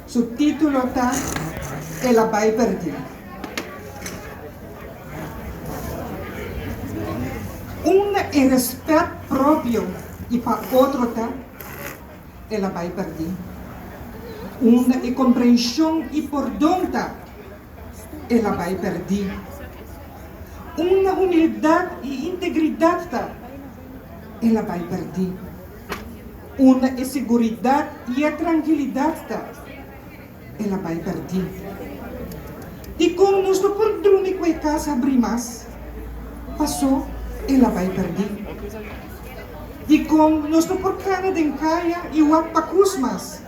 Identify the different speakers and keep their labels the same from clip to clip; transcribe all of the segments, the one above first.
Speaker 1: Su titulo ta El a bai perdi. Unda e respet propio i pa otro ta, el a bai perdi. Unda e komprenshon i pordon ta, el a bai perdi. Unda humildat i integridat ta, el a bai perdi. Unda e siguridat i e trankilidat ta, el a bai pèrdí. Dikon nos ta por drumi ku e kas habrí mas? Pasó el a bai pèrdí. Dikon nos ta por kana den kaya i wak pa kus mas?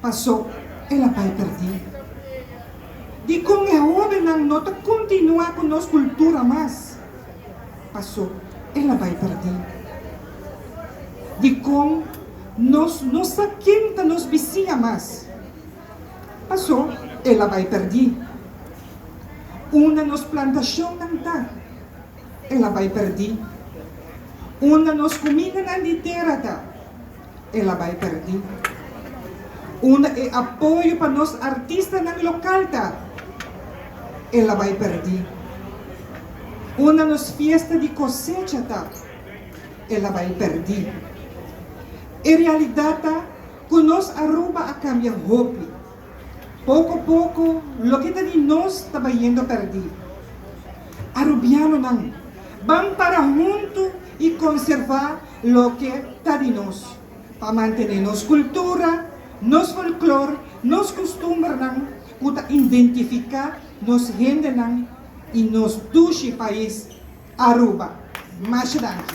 Speaker 1: Paso el a bai perdi. Dikon e hobennan no ta kontinuá ku nos kultura mas? Paso el a bai perdi. Dikon nos no sa ken ta nos bisiña mas? Paso el a bai perdi. Unda nos plantashonnan ta? El a bai perdi. Unda nos kumindanan di tera ta? el a bai perdi. Unda e apoyo pa nos artistanan local ta, el a bai perdi. Unda nos fiesta di cosecha ta, el a bai perdi. E realidad ta cu nos Aruba a cambia hopi. Poko poko loke ta di nos ta bayendo perdí. Arubianonan, ban para huntu i konservá loke ta di nos, pa mantené nos kultura, nos folklor, nos kustumbernan ku ta indentifiká nos hendenan i nos dushi pais Aruba. Masha danki.